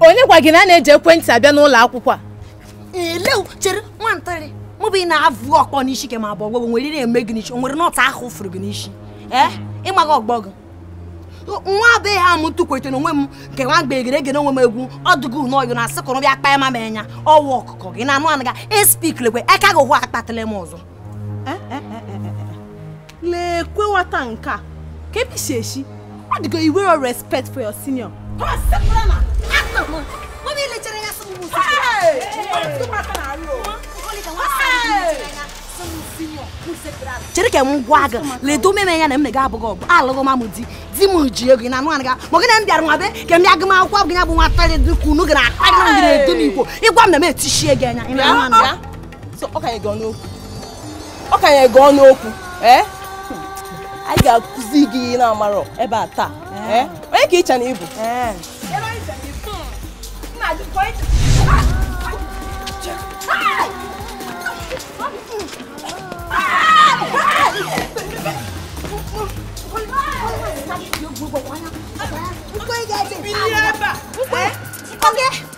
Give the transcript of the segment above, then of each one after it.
onye gwa gị na a na-eji ekwentị abịa n'ụlọ akwụkwọ a elew chere nwantịrị mụ bụ ị na-avụ ọkpọ n'isi ke m abụ ọgbọ gị nwere ihe eme gị n'isi o nwere nut ahụ fụrụ gị n'isi ee ị maghị ọgbọ gị nwa be ha m tụkwete na onwe m nke nwa mgbe egere egere onwe m egwu ọdụgụ na ọyụ na-asị kọrọ bịa kpaa ma m enya ọwa ọkụkọ gị na-anụ anụ ga SP lekwe aka gị hụ akpatụla m ọzọ leekwe nwata nke a ka ebe isi eshi ọ dịgo where your respect for your senior chere ka m gwa gị ledo meme ya na m na gị abụghị ọgbọ alụghị mamụ di di m ji ego na-anụ anụ ga ma gị na m bịara nwa be ka m bịa gị m akwụkwọ abụghị ya bụ nwata dị ka unu gị na-akpa gị na ngị na-edo m igbo ịgwa m na m etishie gị anya ị na-anụ anụ ya so ọ kanye gị ọnụ okwu ọ kanye gị ọnụ okwu ee eh? anyị ga-akụzi gị ihe ị na-amarọ ebe a taa ee eh? onye ka i che na ị bụ Mkwe gị ebe! Mkwe!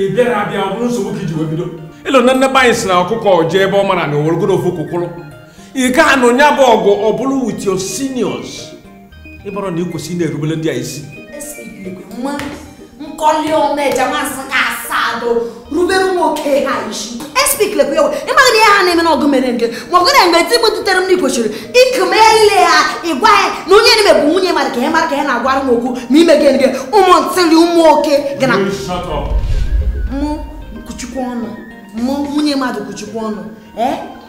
ị bịara abịa ọ bụrụ nsogbu ka i ji wee bido ilu na ndị be anyị sị na ọkụkọ jee ebe ọ marọ ana o weregodu ofu ụkwụ kwụrụ ị ga-anụ nya bụ ọgụ ọ bụrọ with your seniors ịbụrụ na ị kwesị ị na-erubere ndị a isi nkọli ọma eje masị ka asado rubere ụmụ oke ha isi SP lekwe ewe ị maghị na ihe ha na-eme n'ọgụ mere nke ma ọgụ na-eme ti m dutere m na i kwesịrị ikeme ile ha ịgwa ya na onye na-eme bụ nwunye mmadụ ka ya mara ka ya na-agwara m okwu ma ime gị nge ụmụ ntịrị ụmụ oke gị na mụ kwuchikwa ọnụ mụ nwunye mmadụ kwuchikwa ọnụ ee eh?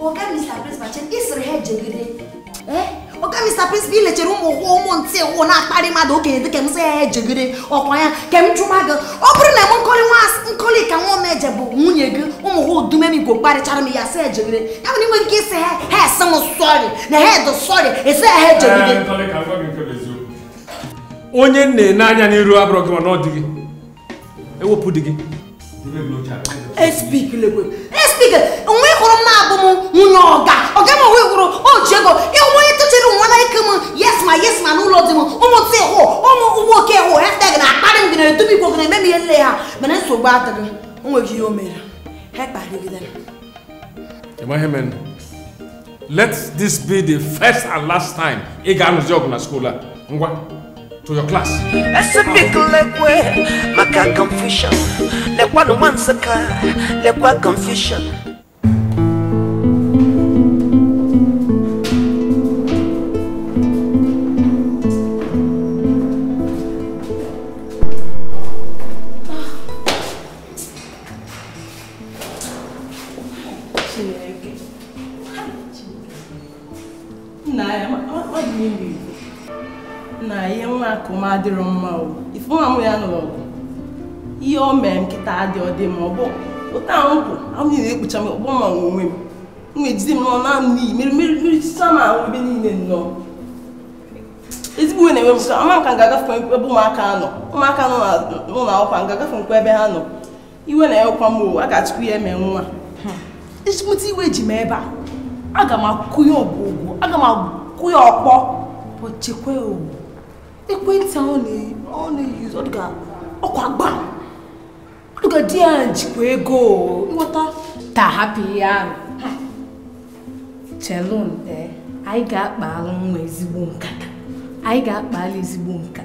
Oga Mr. Principal, ị sịrị ha ejegide. Eh? Oga Mr. Principal i lechere ụmụ ụkwụ ụmụ ntị ụkwụ na-akparị mmadụ okenye dịka m sị ha ejegide ọ kwa ya ka m jụma gị ọ bụrụ na m nkọli nwa Nsụka nwa m eje bụ nwunye gị ụmụ ha odumemigwe kparịchara m ya sị ejegide ya bụ na i nweghị ike ịsị ha ha asị m sorry na ha adị sorry ị sị ha ejegide onye nne n'anya n'iru abụrụ gị ma na ọ dịghị ewepụ di gị SP lekwe SP nwa ị hụrụ m na abụ m nwunye ọga ọga m o nwere o ji ego ịhụ onye tụchiri nwa na ike m yes ma yes ma n'ụlọ di m ụmụ tụ ịhụ ụmụ ụgbọ oke ịhụ hashtag na-akparị m gị na edobe igwe gị na-eme m ihe nile ha mana nsogbu adịghị o nweghị ihe o mere ha kparịgidere ị ma ihe mere let this be the first and last time ị ga-anụzi ọgụ na school a ngwa to your class esipikilekwe maka confusion lekwanụ nwa Nsụka lekwa confusion nna ya ọ dị n'ime igbo nna ihe nwa akụ m adịrọ mma o ife nwa mụ ya nụrụ ọgụ ihe o mere nkịta adị ọ dị ma ọ bụ ụta ahụ kwụ ahụ niile ekpucha m ọgbọ ma onwe m m ejide m n'ọnụ anụ n'iyi mere mere mere chicha m ahụ ebe niile nnọọ ezigbo iwe na-ewe m ka ama m ka m ga-agafe ebe ụmụaka nọ ụmụaka nọ n'ụlọ akwụkwọ m ga-agafe nkwa ebe ha nọ iwe na-ewekwa m a ga-etikwu ya eme nwa ịchịpụta hmm. iwe ji m ebe a aga m akụ ya ọgwụgwụ aga m akụ ya ọkpọ but chekwa ekwentị ahụ na-eyuz ọkwa gba ọdụga di ya jikwa ego nwata a hapụ ihe ahụ chelụnụ eh, anyị ga-akpalụ nwa ezigbo nkata anyị ga-akpalụ ezigbo nkata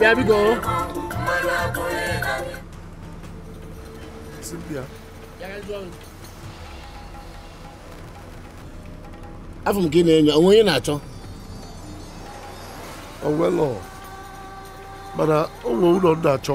There we go. Cynthia. afụ m ka ị na-enyo o nwe onye ị na-achọ o nwelu mana o nwere ụlọ m na-achọ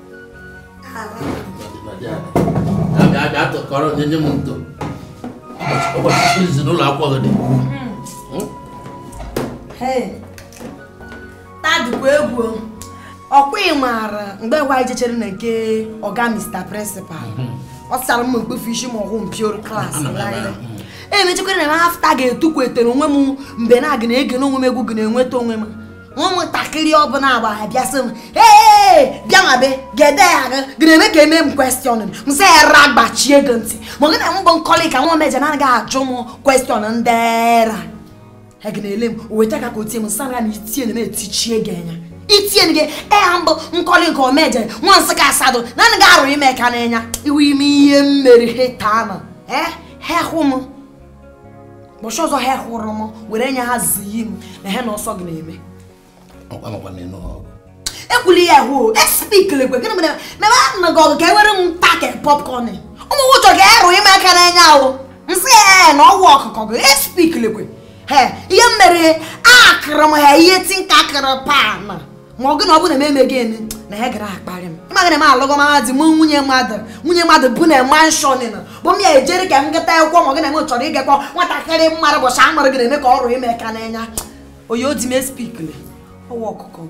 kọrọ nye nye m etu ụbọchị izizi n'ụlọ akwụkwọ gị dị hmm? taa dịkwa egwu ọkwa ị maara mgbe nwa anyị jechere na nke ọga Mr. Principal hmm. ọ sịrị m kpọfụ isi ma ọhụụ mpioro class e mechekwara na m after ga-etukwetere onwe m mgbe na-aga na-ege n'onwe m egwu gị na-enweta onwe m ụmụntakịrị ọbụla agba ha bịa sị m ee bịa ma be gede ya aga gịneme ka eme m question m sị ya ụra gbachie gị ntị ị maghị na m bụ Nkọlịka nwa Omeje na anaghị ajụ m question ndị era ha gị na-ele m o weta ka ka otie m sara na itie na etichie gị anya itie gị eha m bụ Nkọlịka Omeje nwa Nsụka Asadụ na anaghị arụ m aka n'anya iwe ime ihe m mere ha taa nụ ee hehụ m ụbọchị ọzọ ha hụrụ m were nya ha ziyi m na ha na ọsọ gị na-eme ekwuli ya hụ espikilekwe gịnị mere mebe a na gị ọgụ ka ewere m take popcorn ụmụ nwụchọ ga-arụ m aka n'anya ahụ m sị ya na ọgwụ ọkụkọ gị espikilekwe ihe m mere akụrụ m ha ihe tinka kụrụ pan ma ọ gụ na ọ bụ na m emeghị eme na ya gara akparị m ịmaghị na m alụgoma di m nwunye mmadụ nwunye mmadụ bi na mansion na bụ m ya ejere ka m gata akwụkwọ ma ọ gị na m chọrọ ịgakwa nwatakịrị m maara ụbọchị a mụrụ gị na-eme ka ọrụ ime ka n'anya oyi odi m espikle ọwa ọkụkọ m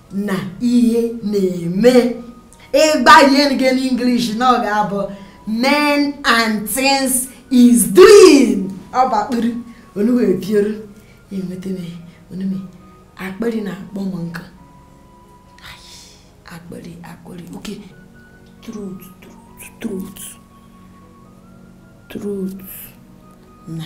na ihe na-eme ịgba ihe nke n'English na ọ ga-abụ men and things is doing ọ bụ akpịrị onu wee biere enweta m onu m akpịrị na-akpọ m nkụ akpịrị akpịrị okay throat throat throat throat na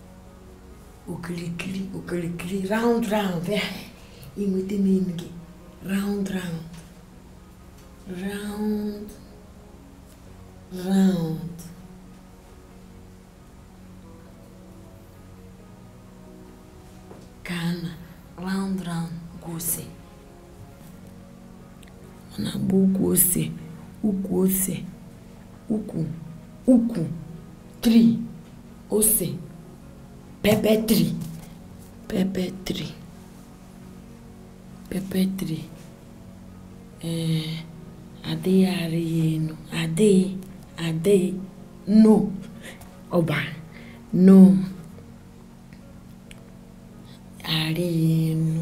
okirikiri okirikiri round round ya i nweta meaning round round round round ka a na round round gwụsị ọ na-agba ukwu ose ukwu ose ukwu ukwu tree ose pepper tree pepper tree pepper tree ee eh, adịghị arị ya enu adịghị adịghị no ọba no arị ya enu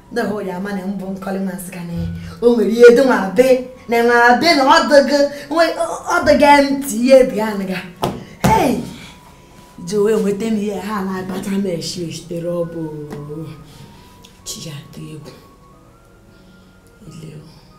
na hụ ya ama na m bụ Nkọli nwa Nsụka na o nwere ihe dị nwa be na nwa be na ọdịga ntị ihe bi anaga ji wee nweta m ihe ha na-agbata m eshi esitere ọ bụ chi ya atụ egwu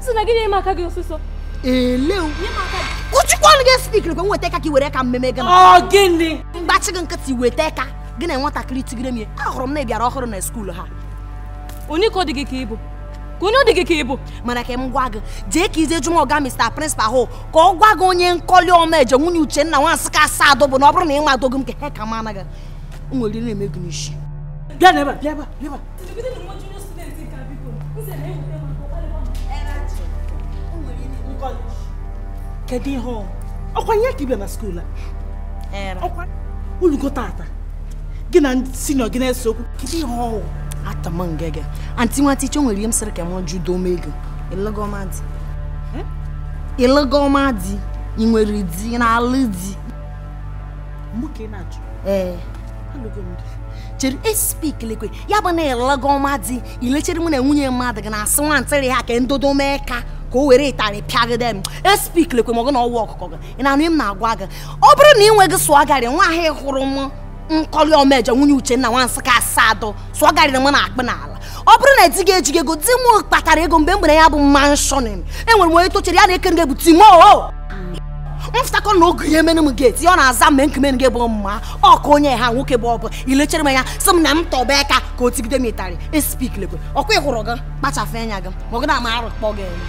si na gị nye m aka gị ọsịsọ eleu kụchikwanụ gị spik nkwe weta aka ka i were ka mmemme gị na ọ gịnị m gbachi gị nkịtị weta aka gị na nwatakịrị tigere m ya ahụrụ m na ị bịara ọhụrụ na skuulu a onye ka ọ dị gị ka ị bụ ka onye ọ dị gị ka ị bụ mana ka m gwa gị jee ka i je jụọ ọga mr principal hụ ka ọ gwa gị onye Nkọli Ọmeje nwunye Uchenna nwa Nsụka Asadụ bụ na ọ bụrụ na ị ma dogo m ka he ka m anaghị m nwere ire na-eme gị n'isi bịa n'ebe a bịa ebe a bịa ebe a kedu ihe ọkwa ihe ka ị bịa na skuul a ọkwa ulugo tata gị na senior gị na-ese okwu kedu ihe ọ wụ atama ngege aunty nwa teacher nwere ihe m sịrị ka m jụ dome ego ị lụgoma di ị lụgoma di ị nwere di na-alụ di ee chere espik lekwe ya bụ na ịlaga ọma di i lechere mụ na nwunye mmadụ gị na-asị nwatakịrị a ka ndodo m aka ka o were ịtarị pịagide m espik lekwe ma ọ gụ na ọwa ọkụkọ gị ị na-anụ m na-agwa gị ọ bụrụ na ị nweghị sụọ garị nwa ahụ hụrụ m nkọli omeje nwunye uchenna nwa nsị ka asaa adọ sụọgarịrị m na-akpụ n'ala ọ bụrụ na di gị ejighị ego di m kpatara ego mgbe m gbere ya bụ mansion enwere m onye tochere ya na-eke nga bụ timo mfụtakọ na oge ya emere m geti ọ na-aza mgbe nkemere gị bụ mma ọka onye ha nwoke bụ ọ bụ i lechere m anya sị m na m tọba aka ka o tigide m ịtarị espik lekwe ọ kwa ị hụrụ gị kpachafụ anya gị ma ọ gị na-ama arụ kpọ gị elu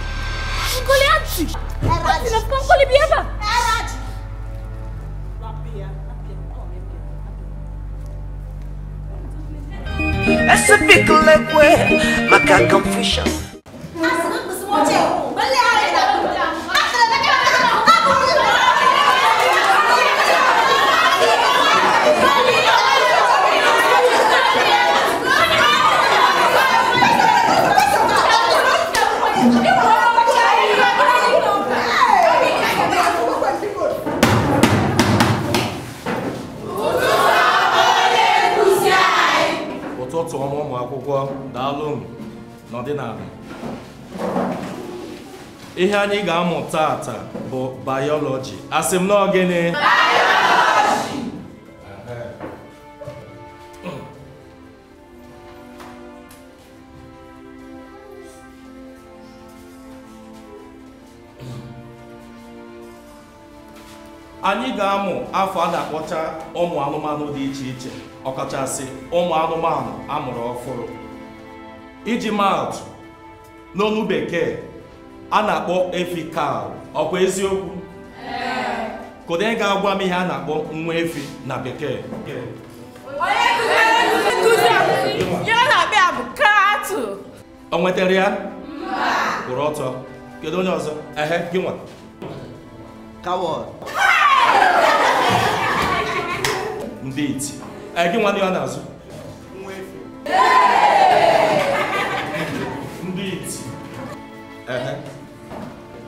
Esipikilekwe maka confusion. ụtụtụ ọma ụmụ akwụkwọ daalụ nọdụnụ ala ihe anyị ga-amụ taata bụ bayọlọji asị m na ọ gịnị anyị ga-amụ afa a na-akpọcha ụmụ anụmanụ dị iche iche ọkachasị ụmụ anụmanụ a mụrụ ọfụrụ iji maatụ n'olu bekee a na-akpọ efi cow ọ kwa eziokwu kedu onye ga-agwa m ihe a na-akpọ nwa efi na bekee o nwetarọ ya kwụrụ ọtọ kedu onye ọzọ ehe gị nwa coward ndị iti ee gị nwa ndị ọ na-azụ ndị iti ehe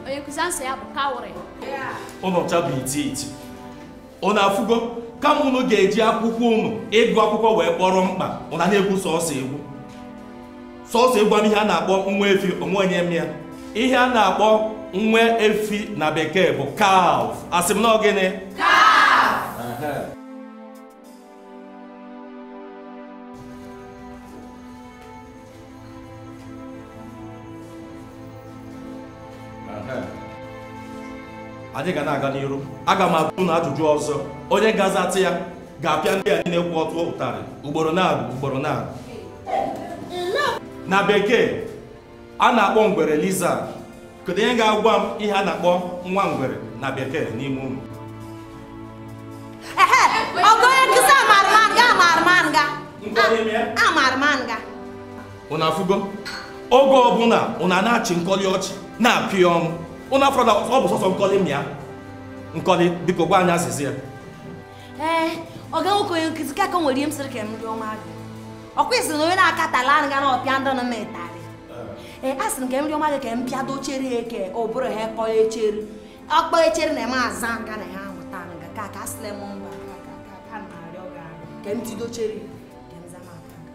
onye nkụzi answer ya bụ cowrie ụnụ ncha bụ iti iti ụnụ afụgo kama ụnụ ga-eji akwụkwọ ụnụ ịgụ akwụkwọ wee kpọrọ mkpa ụnụ ana-egwu sọsọ egwu sọsọ egwu ihe a na-akpọ nwa efi o nwee onye ma ya ihe a na-akpọ nwa efi na bekee bụ calf asị m na gịnị anyị ga na-aga n'iru aga m ajụ ụnụ ajụjụ ọzọ onye ga-azata ya ga-apịa ndị a niile kwụ ọtọ ụtarị ugboro naabọ ugboro naabọ na bekee a na-akpọ ngwere lizard kedu onye ga-agwa m ihe a na-akpọ nwa ngwere na bekee n'ime ụmụ ọgụ onye nkụzi amara m ya amara m ya amara m ya ụnụ afụgo oge ọ bụla ụnụ na-achị nkọli ọchị na-apị ọnụ ụnụ afụrọ na ọ bụ sọsọ nkọli ma ya nkọli biko gwa anyị azịza ya ee eh, ọga nwoke onye nkụzi ka ka nwere ihe m sịrị ka m rịọma gị ọ kwesịrị na onye na-akatala anụ ga na ọpịa ndụ na ịtarị ee a sịrị m ka m rịọma gị ka m pịado echere ya eke ọ bụrụ ha kpọọ echere ọkpọ echere na eme aza nga na ha amụta anụ ga ka ka asịla m mba ka m na-arịọ gị ka m tido echere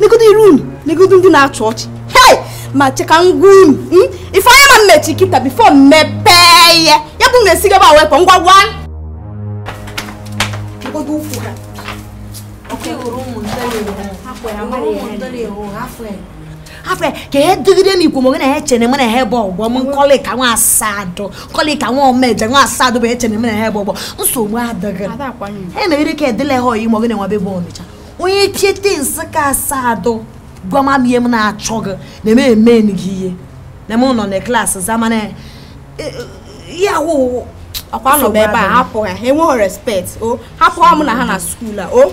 negodo iru unu negodo ndị na-achị ọchị hei ma cheka ngwa unu hmm? ife anya ma m mechie kịta before m mepee ihe ya bụ na esigaba wepụ ngwa ngwa negodo ukwu ha afọ ya ka ya dịgide m ikwu mgbe na ya chere m na ha bụ ọgbọ m nkọlịka nwa asadụ nkọlịka nwa omeje nwa asadụ bụ echere m na ha bụ ọgbọ nsogbu adịghị e megide ka edele ha oyi mọgị na-enwe ebe ọnịcha onye tiete nsịka asadụ gwa m ihe m na-achọ gị na eme eme gị ihe na m nọ na class a mana e, e, ya wụ ọkwa nọ ebe a hapụ ha enweghị respect o hapụ ha mụ na ha na school a o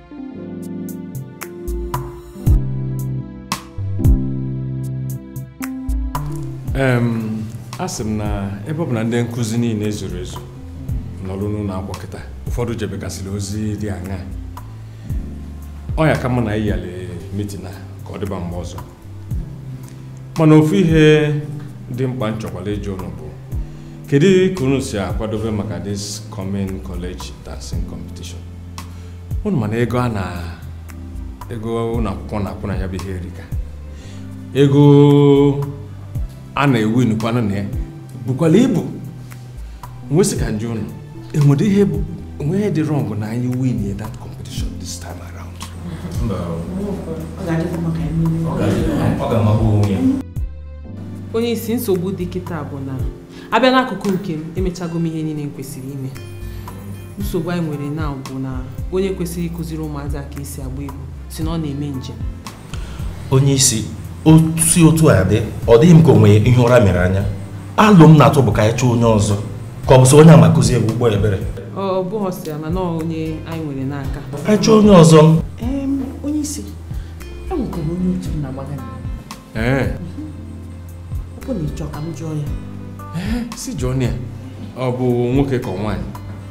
asị m na ebe ọ bụ na ndị nkụzi niile ezurọ ezu nọrọ n'ụlọ akwụkwọ kịta ụfọdụ jebegasịrị ozi dị anya ọ ya-aka mma na anyị yiali meeting a ka ọ dịba mgbe ọzọ mana ofu ihe dị mkpa m chọkwalụ ịjụ ụnụ bụ kedu ka unu si akwadobe maka this coming college dancing competition unu ma na ego a na ego ụlọ akwụkwọ na-akwụ na ya bụ ihe erika ego a na-ewin kwanụ na ya bukwalụ ibu m wee sị ka m jụọ ụnụ enwere ihe bụ o nwe ihe dị wrong na anyị winie that competition this time around onye isi nsogbu dị kịta bụ na a bịa n'akụkụ nke m emechago m ihe niile m kwesịrị ime nsogbu anyị nwere na bụ na onye kwesịrị ịkụziri ụmụazị aka e si agba egwu sị na ọ na-eme njem onye isi o si otu a dị ọ dịghị m ka o nwe ihe ụra mere anya alo m na-atụ bụ ka anyị chọọ onye ọzọ ka ọ bụ sọ onye a ma akụzi egwu ụgbọ ebere ọ bụghị sọ ya mana onye anyị nwere n'aka anyị chọọ onye ọzọ onye isi e nwekwara onye otu m na-agbaga ee ọ bụ na ị chọ ka m jụọ ya si jụọ ya ọ bụ nwoke ka nwaanyị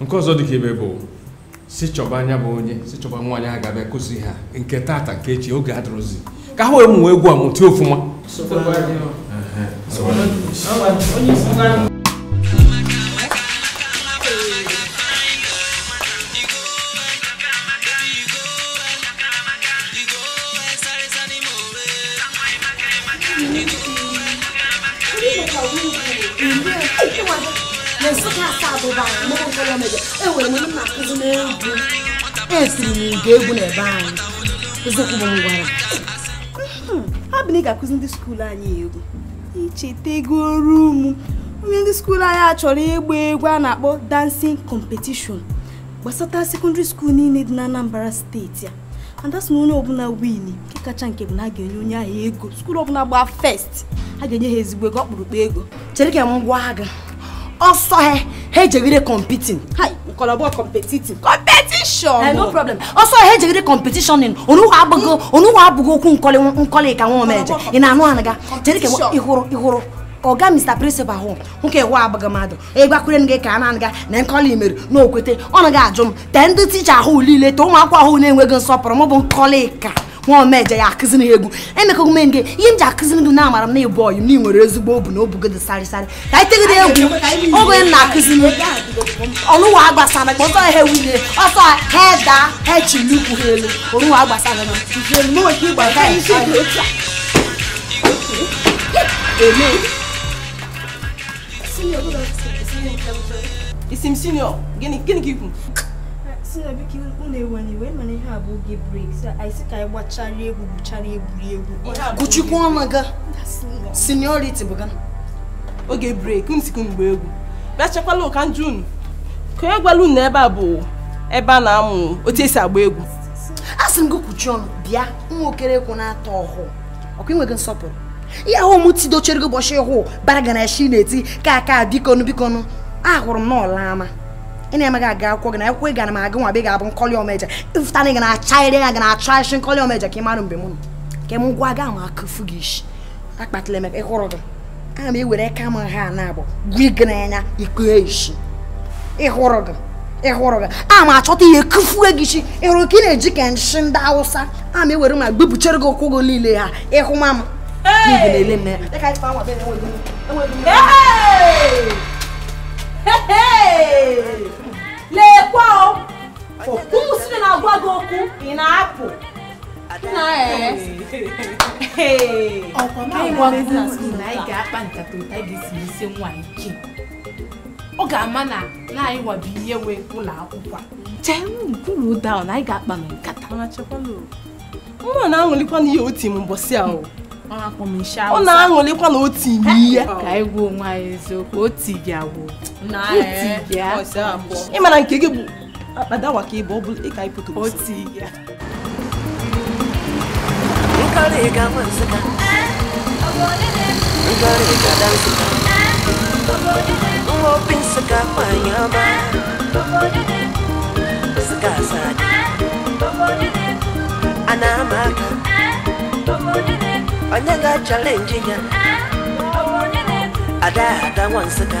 nke ọzọ dị ka ibe bụ si chọba anya bụ onye si chọba nwaanyị a ga-abịa kụzi ha nke tata nke echi oge adịrọzi ka ha wee mụọ egwu a mụta ọfụma esiri m ga egwu n'ebe anyị eziokwu bụ ngwara abụ na ị ga-akụzi ndị skuulu anyị egwu i chetego oru ụmụ onye ndị skuulu anyị achọrọ ịgba egwu a na-akpọ dancing competition gbasata sekọndịrị skuulu niile dị na Anambra steeti a and that's na onye ọbụla win nke kacha nke bụ na a ga-enye onye ahụ ego skuul ọbụla gbaa first a ga-enye ha ezigbo ego ọkpụrụkpụ ego chere ka m gwa gị ọ sọ ha ha jegide competing nkọlọbọ competitive competition eh, no problem ọ sọ ha ha jegide competition ọnụwa abụghị ọnụwa abụghị okwu nkọlị nkọlị ka nwa omeje ị na-anụ anaga chere ka ị hụrụ ị hụrụ ọga mr principal hụ nwoke hụ abụghị mmadụ egwakwere m gị ka a na-aga na nkọli mere na o kwete ọ naghị ajụ m tee ndị ticha ahụ niile tee ụmụ akwụkwọ ahụ na-enweghị nsọpụrụ m bụ nkọli ka nwa omeje ya akụziri ha egwu emekọgụ m gị ihe m ji akụziri gị na amara m na ị bụ ọyị m na ị nwere ezigbo obu na obu gị dị sarịsarị ka anyị tegide egwu oge m na-akụziri ọnụwa agbasara ka ọ sọ ha ewunye ọ sọ ha daa ha achịnie ụkwụ ha elu ọnụwa agbasara m Amen. ị sị m senior gịnị ka i kwu senior biko unu ewena iwe mana ihe a bụ oge break anyị ka anyị gbachara egwu gwuchara egwuregwu kpuchikwa ọnụ gị seniority bụ ga oge break m sikwu mgbe egwu bịa chekwala ka m jụọ unu ka onye gwala unu ebe a bụ ebe a na-amụ otu e si agba egwu asị m gị kpuchie ọnụ bịa nwa okere kwụ na-atọ ọhụụ ọ kwa ị nweghị nsọpụrụ ihe ahụ m tidochere gị ụbọchị hụ bara gị n'ishi ntị ka aka bikonu bikonu ahụrụ m n'ọla ama ị na-emaghị aga akwụkwọ gị na akwụkwọ ị gara m agụ nwa be ga-abụ nkọli omeje ị fụta na ị ga na-acha ire ya ga na-achọ achị nkọli omeje ka ị mara mgbe m nọ ka m gwa gị a ma akụfu gị isi akpatala emeka ịhụrụ gị ana m ewere aka m ha na-abụ gwa gị n'anya iko eshi ịhụrụ gị ịhụrụ gị a ma achọta ihe kụfuo gị ishi ịhụrụ ka ị na-eji ka nshi ndị awụsa a ma ewere mma gbepụchere gị ụkwụ gị niile ha ịhụ ma m na-ele m lekwa o ụmụ siri na-agwa gị okwu ị na-apụ ọ ga-ama na anyị wabi ihe wee ụlọ akwụkwọ chee kwuru ụda na anyị ga-akpa na nkata mma na-aṅụlikwa na ihe oti m mbọsị ahụ ọ na-aṅụlikwa na oti m ihe ka anyị gwa onwe anyị eziokwu oti gị agwụ ị ma na nke gị bụ akpadawa ka ị bụ ọ bụla ịka ịpụta otu ya nkọrị ga nwa nsụka nkọrị ga da nsụka nwa obi nsụka nwanyị ọma nsụka asadu a na-ama aka onye ga-achallenge ya ada ada nwa nsụka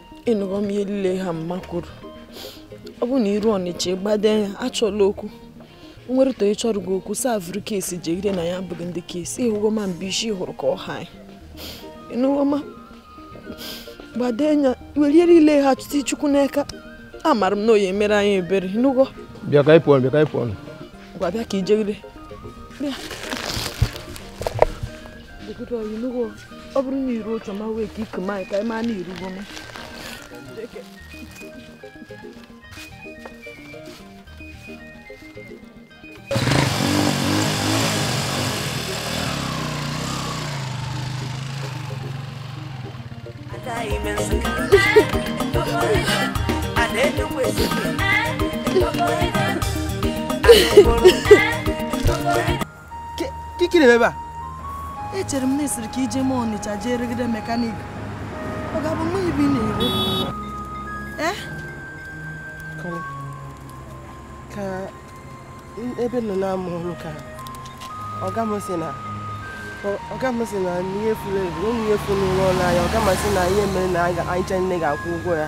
ị nụgo m ihe niile ha mma kwuru ọ bụ na i ruo ọnịcha ị gbado anya achọla okwu nwere to ịchọrọ gị okwu sị ya vuru case jegide na ya abụghị ndị case ị hụgo ma mba isi hụrụ ka ọ ha ị nụgo m gbado anya welie niile ha chụta chukwu n'aka amara m na ọ ya-emere anyị ebere ị nụgo bịa ka ịpụ ọnụ bịa ka ịpụ ọnụ ngwa bịa ka i jegide bịa ọ bụrụ na i ruo otu ma wee ka ike ma ka ị ma na i rugo m kikiri ebe a echere m na esiri ka i jee m ọnịcha jee rụgide mechanic ọ ga-abụ mgbe ibi na-ere eh? ka ebe nọ na-amụ ọrụ ka ọga m si na ọga m si na ihe furu efu onye ihe furu n'ụlọ ọrụ anyị ọga m si na ihe mere na anyị ncha nine ga-akwụ ụgwọ ya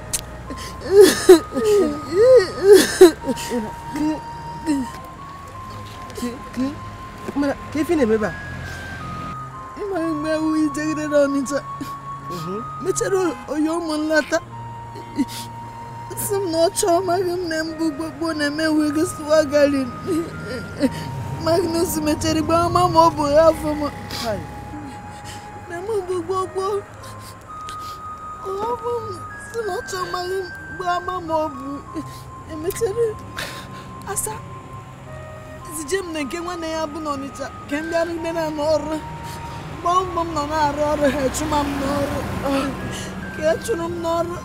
mana kee ife na-eme ebe a ị ma mgbe ahụ i jegide na ọnịcha mhm. mechara ọyị m lata si m na ọ chọọ amaghị m na mbụ gbogbo na-eme ọgwụ ego sụwa garin Magnus mechara gbaa ma ọ bụ afọ m na mbụ gbogbo asa zije m na nke nwanne ya bụ n'Ọnịcha ka m biri ebe ahụ na-arụ ọrụ ọ bụ ebe m nọ na-arụ ọrụ ha achụma m n'ọrụ ka e chụrụ m n'ọrụ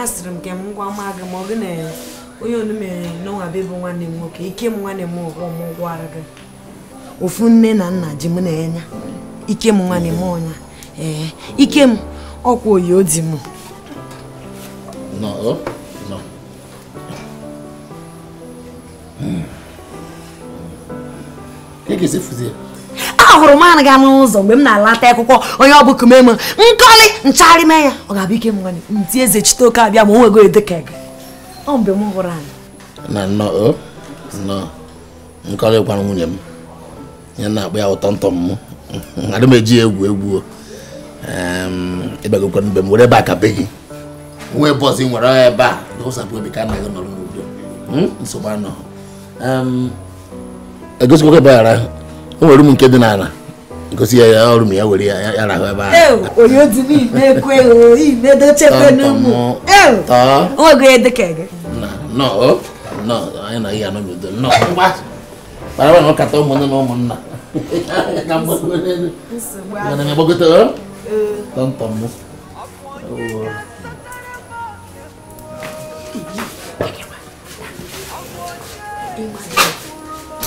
asịrị m ka m gwa ma gị ma ọ gị na onye onu mere n'ụwa be bụ nwanne m nwoke ikem nwanne m ọgọ m ọ gwara gị ofu nne na nna ji mụ na ya ikem nwanne m onye ee ikem ọkwa oyi odi m ahụrụ m anaghị anụ ụzọ mgbe m na-alata akwụkwọ onye ọ bụ kumeme nkọli nchagharị mee ya ọ ga-abụ ikem nti eze chite oke abịa ma o nwee ego dịka gị ọ mgbe m hụrụ anyị na nnọọ nnọọ nkọli gwara nwunye m ya na-akpọ ya ụtọ ntọ m adị m eji egwu egwu ịbagokwa be m were ebe a ka be gị nwee boss nwere ebe a ụsapụ obi ka anaghị nọrọ n'udo hmm? nsogbu anọ egosikwa ebe ara o nwere room nke dị n'ala gosi ya ya room ya were ya ya rahụ ebe ahụ onye otu n'ime ekwe ime dochekwe n'ụmụ onwego ya dịka gị nọ nọ anyị na ihe anọ n'udo nọ ngwa mana nwe ọkata ụmụnne na ụmụnna ka mgbago n'elu mana m agbagote ọ tọntọ m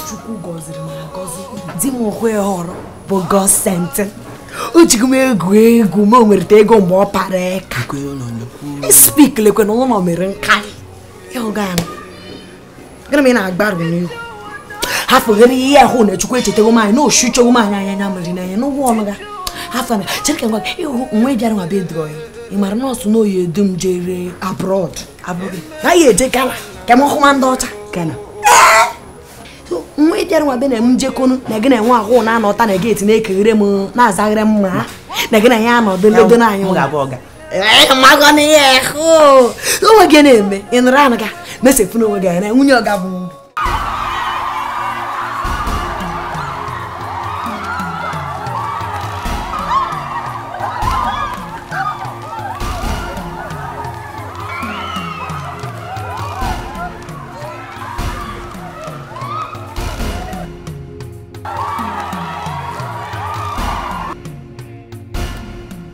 chukwu gọziri m agọzi di m hụ ya họrọ bụ godsent o jighị m egwu egwu ma o nwereta ego mgbe ọ para eka spik lekwe na ụlọ mere nkarị ịhụga ya gịnị ma ị na-agbarụ n'ihu hafụghere ihe ahụ na chukwu echetago m anyị na osu chogbu m anyị anya anya mmiri n'anya n'ụgwọ ọnụ ga hafụ na chere ka ngwa ịhụ nwa ịbịara nwa bịa dụọ ya ị mara nọọsụ na oyi edu m jere abroad abụghị na ya eje gana ka m hụma ndị ọcha gana nwa ịbịara nwa bịa na m jekonu na gị na enwe ahụ na-anọta na gate na-ekeghere m na-azaghere m ma na gị na ya anọdụ ledo na anyị magwana ihe ahụ onwe gị na-eme ị nụrụ anụ ga mesepụ n'onwe gị anya nwunye ọga bụ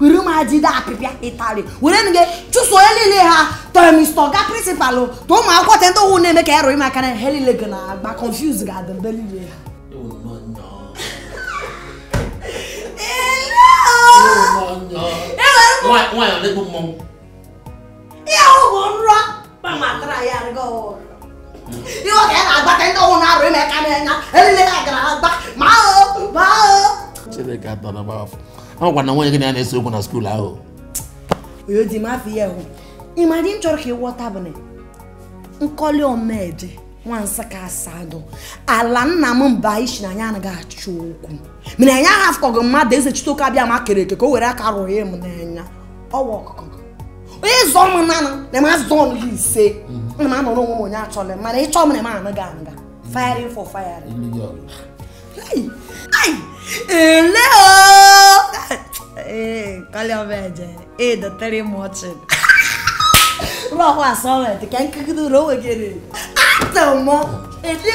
were m ajide apịpịa ịtarị were nụ gị chụso onye niile ha tụ mister ọga principal tụ ụmụ akwụkwọ te ndị ụwụ na-eme ka ya rụrụ maka na ha niile ga na agba confuse ga-adị ndị niile ha Nwaanyị ọ na-egbu mmọnwụ ihe ahụ bụ nrọ kpamatara ya rịgo ụlọ ihe ọ ga na-agbata ndị ọnwụ na-arụ ime ka na-enya elile ya gara agba ma ahụ ma ahụ chineke atọ na gbafọ agwa na nwunye gị na ya na-ese okwu na skuul ahụ onye di m afọ ya hụ ịma dị m chọrọ ka ịghọta bụ na nkọli omeje nwa nsụka asadu ala nna m mba isi na anyị anaghị achọ okwu mana anyị ahafụkọghị mmadụ eze chitoke abịama kere eke ka o were aka rụọ ya m n'anya ọwa ọkụkọ onye zọ m nanụ na m azụ ọnụ gị ise na m anọrọ onwe m onye achọla m mana ị chọọ m na m anụ gị anụ ga firing for firing ele kalịa ọba eje ịdọtere m ọchị ụlọ ọkwa asọmenti ka nkegide ụlọ onwe gị rere atọ mọ ele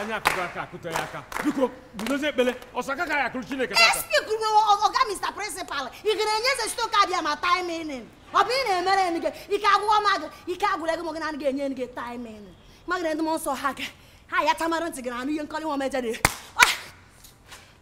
anyị akụkọ aka akụtọ ya aka biko guzozie ekpele ọsọ aka ka ya akụrụ chineke tata SP kwuru ọga Mr. Principal ị ga na-enye eze chitoke abịama timing ọ bụ ị na-emere enyi gị ike agwụghọ m agụ ike agwụla gị ma gị na anaghị enye enyi gị timing magana ndị m nsọ ha gị ha ya tamara ntị gị na anụ ihe nkọli nwa omeje na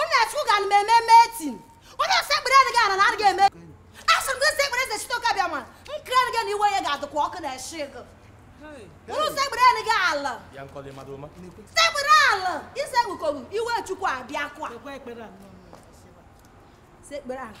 onye achụ ga na eme meeting onye esekpereghị ala na adịghị eme asị m gị sekpere eze chitoke abịama nkiri adịghị na iwe ya ga-adịkwa ọkụ na eshi gị ọ bụrụ na i sekpereghị ala sekpere ala i sekpukọghị iwe chukwu abịakwa sekpere ala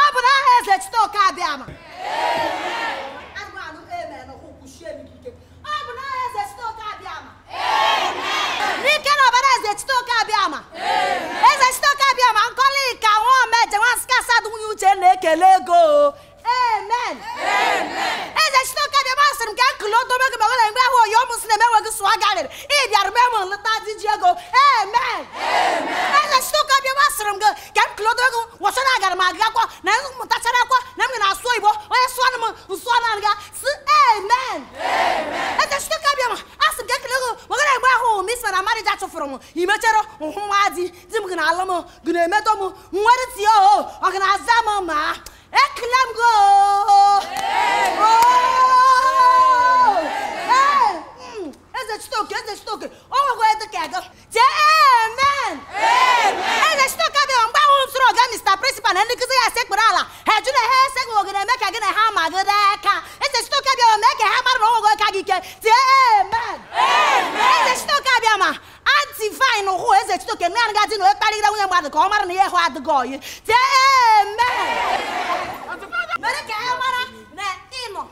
ọ bụ n'aha eze chitoke abịama n'ike na ọbara eze chitoke abịama eze chitoke abịama nkọli ka nwa omeje nwa nsụka asadu nwunye uche na-ekele gị o amen eze chitoke abịama sịrị m ka m kele odogwu gị mewere mgbe ahụ oyi ọmụ si na emeweghị sụọ garịrị ị bịara mee m nleta dị ji ego amen eze chitoke abịama sịrị m gị ka m kele odogwu wọchara agara m agụ akwọ na m mụtachara akwọ na m gara asụ igbo onye sụọ na m nsụọ na nga si amen eze chitoke abịama asị m ka m kele gị wegara mgbe ahụ m isi na marija chụfụrụ m i mechere hụ nwa di di m ga na-alụ m ga na-emetọ m nwere tie o ọ ga na-aza m ma ekele m gị eze chitoke eze chitoke o nwekwa eze ka gị tie amen eze chitoke abịama mgbe ahụ m sịrị ọga mr principal na ndị nkụzi ya sekpuru ala ha ajụ na ha esekpu ogene eme ka gị na ha ma gị n'aka eze chitoke abịama mee ka ha mara na o nweghị onye ka gị ike tie amen eze chitoke abịama anti vine hụ eze chitoke na anaga dị na onye kparịgide nwunye mmadụ ka ọ mara na ihe ahụ adịghị oyi tie amen mere ka ha mara na ịnọ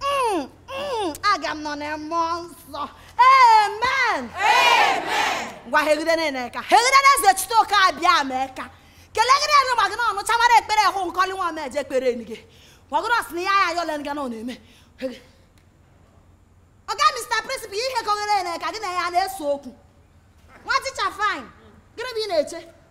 Mm, mm, aga m nọ na mmụọ nsọ amen ngwa hegide na eka hegide na eze chite oke abịa ma eka kelegide enu gbago na ọnụ chamara ekpere hụ nkọli nwa ma eje ekpere enu gị gbago na ọsị na ya ya yọlen ga na ọ na-eme Hege. oga mr principal ihe kọghere na eka gị na ya na-ese okwu nwa ticha fine gịnị bụ ihe ị na-eche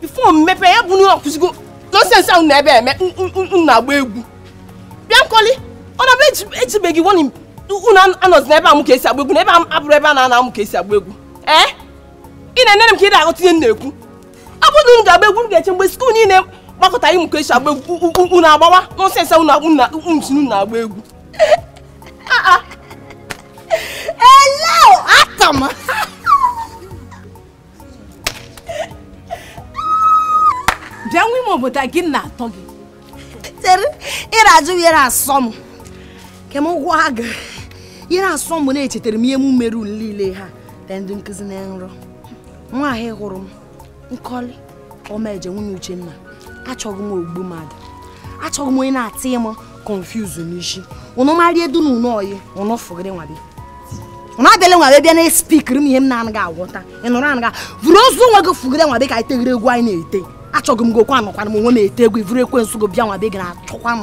before m mepe ya bụ unu akwụsịgo nonsense ahụ na ebe eme na-agba egwu bịa nkọli ọ na-abụ ejibeghị wọnị unu anọzi n'ebe amụ ka esi agba egwu na ebe a bụrụ ebe a na-anọ amụ ka esi agba egwu ee ị na-enere m ka ị na-aghọta ihe m na-ekwu ọ bụrụ na unu ga-agba egwu unu ga-eche mgbe school niile gbakọta ịmụ ka esi agba egwu unu agbawa nonsense unu na-agba egwu Hello, Atama. bịa nwa ime obodo gị na-atọ gị tere ị ra-ajụ ihe na-asọ m ke m gwa gị ihe na-asọ m na echetara m ihe m mere unu niile ha ndị nkụzi na nrọ nwa ahụ hụrụ m nkọli ọmaeje nwunye uchenna achọghị m ogbu mmadụ achọghị m onye na-atị m confuse n'isi ụnụ marie du na ụnụ oyi ụnụ fụgịrị nwa be ụnụ abịala nwa be bịa na-espikiri m ihe m na-anaghị aghọta ị nụrụ na gị vuru ozu onwe gị fụgịrị nwa be ka anyị tegịrị egwu anyị na-ete achọghị m gị okwu anọkwana m onwe m ete egwu i vuru ekwensu gị bịa nwa be gị na-achọkwa m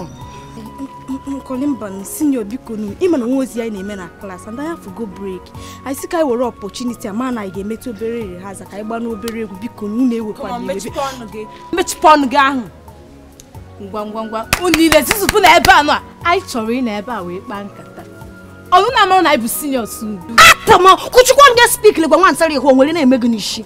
nkọli mbanụ senior bikonu ị ma na nwa ozi anyị na-eme na class and anyị afụgo break anyị sị ka anyị were opportunity a ma na anyị ga-emetụ obere rehearsal ka anyị gbaanụ obere egwu bikonu unu ewekwana iwe mechipụ ọnụ gị mechipụ ọnụ gị ahụ ngwa ngwa ngwa unu niile zuzupụ na ebe a now. anyị chọrọ ịnọ ebe a wee kpaa nkata unu na-amara na anyị bụ seniors unu atama kụchikwa ọnụ gị spikiri gwa nwa nsara ihu o nwere ihe na-eme gị n'isi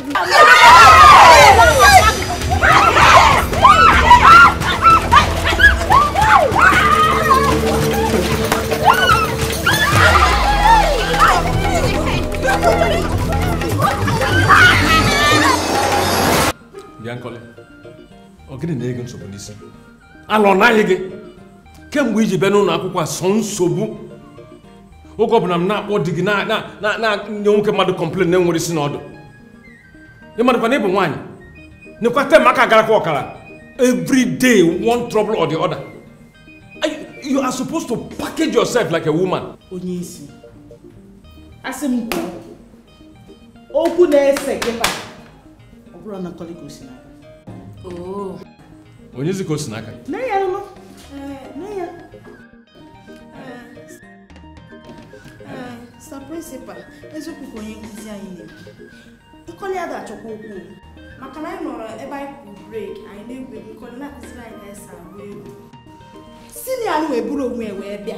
Bịa Nkọli, ọ gịnị na-enye gị nsogbu n'isi? ala ọ na-ayị gị kemgbe i ji bịa n'ụlọ akwụkwọ a sọ nsogbu oge ọbụla m na-akpọ di gị na-enye nwoke mmadụ complain na-enwerọ isi na ọdụ ị madụkwa na ị bụ nwaanyị nekwa term aka agarọkwa ọkara every day one trouble or the other you are supposed to package yourself like a woman onye isi asị m kwuo okwu na-ese kịta ọ bụrụ na nkọlị ka o si n'aka oh. onye zi ka o si n'aka nne ya nụ nne ya sir principal eziokwu ka onye nkụzi anyị na-ekwu nkọlị ada achọkwa okwu maka na anyị nọrọ ebe a kụrụ break anyị na-egwu egwu nkọlị na-akụziri anyị ka anyị si agba egwu senior wee buru onwe wee bịa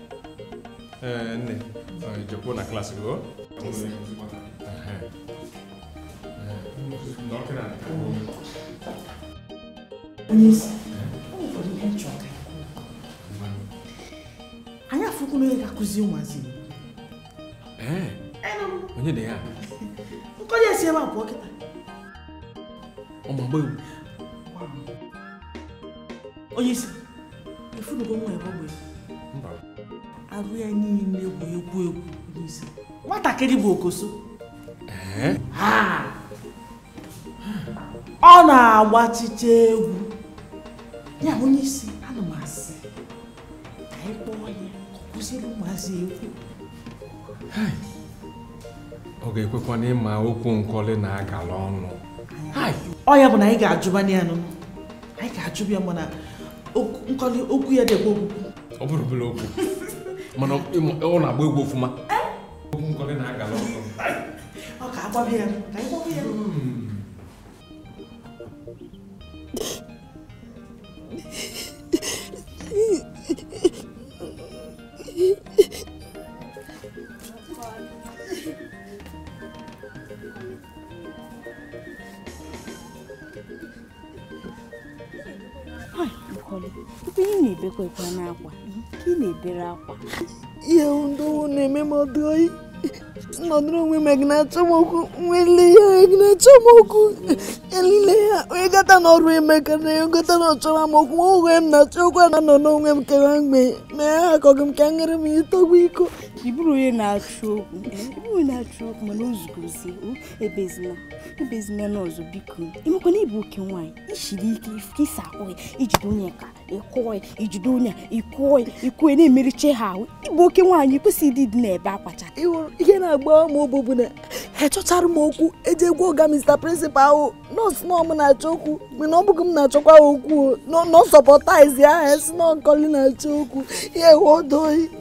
Eh, nne eh, jekwuo na class gị anyị afụkwu na onye ga-akụzi ụmụazị eh, onye dị ya nkọlị si ebe a pụọ kịta ọmagbe onye isi ị fụnụgo nwa ebe ogbe arụ ya niile bụ egwu egwu n'isi nwatakịrị bụ okoso ọ na-agbachicha egwu ya onye isi ana m asị ka anyị kpọọ ya ka ọ kụziri ụmụazị egwu ọ ga-ekwekwa na ị ma okwu nkọlị na-agala ọnụ ọ ya bụ na anyị ga-ajụbanye ya n'ụnọ anyị ga-achụbụ ya mana nkọlị okwu ya dịkwa ọkụ ọ bụrọ obere okwu mana ọ na-agba egwu ọfụma okwu nkọlị na-agala ọnụ ọ ka agbabi ya ka anyị gbọbụ ya ihe ndị na-eme m ọdụ oyi nọdụrụ onwe m gị na-achọ m okwu nwele ya gị na-achọ m okwu elile ya onye gata n'ọrụ emeka na ya gata na ọ chọwa m okwu ma onwe m na-achọ okwu a na-anọ n'onwe m kewa mgbe na ya akọghị m ka nyere m itogbu iko ị bụrọ onye na-achọ okwu ị bụrọ onye na-achọ okwu mana o zugozie ebezina ebezina ọzọ biko ị makwa na ị bụ oke nwaanyị i siri ike ịsa ahụ ya i jide onye ka ị kụọ ya i jide onye ị kụọ ya ị kụọ ya na-emericha ha ị bụ oke nwaanyị kwesịrị ịdị na-ebe akwa cha ihe na-agbawa m obi bụ na a chọchara m okwu e jee gwa ọga Mr. Principal ahụ na ọ sị na ọ mụ na-achọ okwu mana ọ bụghị m na-achọkwa okwu na supporters ya asị na ọ nkọlị na-achọ okwu ya ewe odoyi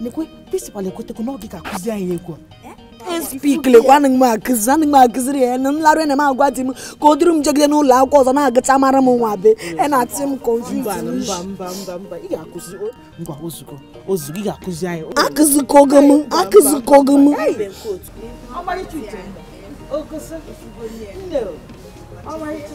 nekwe principal ekwetego na ọ gị ga-akụzi anyị egwu a speak lekwa anaghị m akụzi anaghị m akụziri ya na m larụ ena m agwa di m ka o duru m jegide n'ụlọ akwụkwọ ọzọ na-agacha mara m nwa be e na-atị m akụzikogo m akụzikogo m ọmarịcha uche ogosi nne ọmarịcha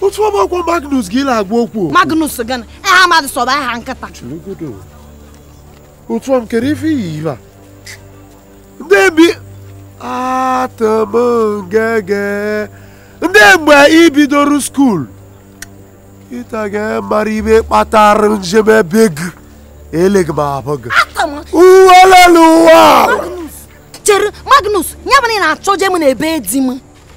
otu ọma ọ kwa magnus gị na-agwa okwu magnus gị na aha mmadụ sọba aha nkịta otu ọm kere ife iyi ibe ndị bi atụmngege ndị mgbe i bidoro school ị ta ga-amara ihe kpatara njem ebe gị eleghị m abụ gị uwelele ụwa chere magnus ya bụ na ị na-achọje m na ebe di m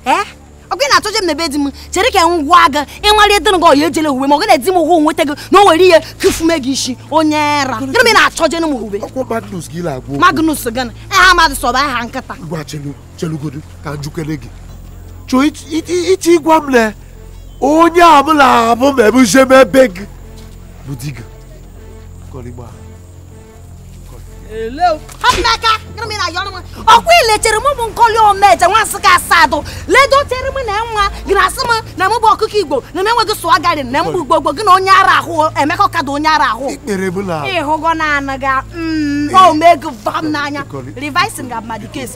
eh? ọ gị na-achọje m na ebe di m chere ka m gwa gị ịnwale dịrị gị ọya ejele uwe ma ọ gị na-edi m hụ nweta gị na o were ihe kufume gị isi onye era gịnị m ị na-achọje m uwe magnus gị na aha mmadụ sọba aha nkịta gwa chelugodu ka njukere gị chọọ iche ịgwa m na onye ọbụla abụ ma ebe uche ma ebe gị bụ di gị ọkwa ilechere m bụ nkoli omeje nwa nsụka asadụ ledotere m na nwa gị na asị m na mụ bụ ọkụkọ igbo na m enweghị swagger na mgbe ugbo gbo gị na onye ara ahụ emekọ kadụ onye ara ahụ ịhụgo na anụ ga omego vam n'anya revising ga mmadụ case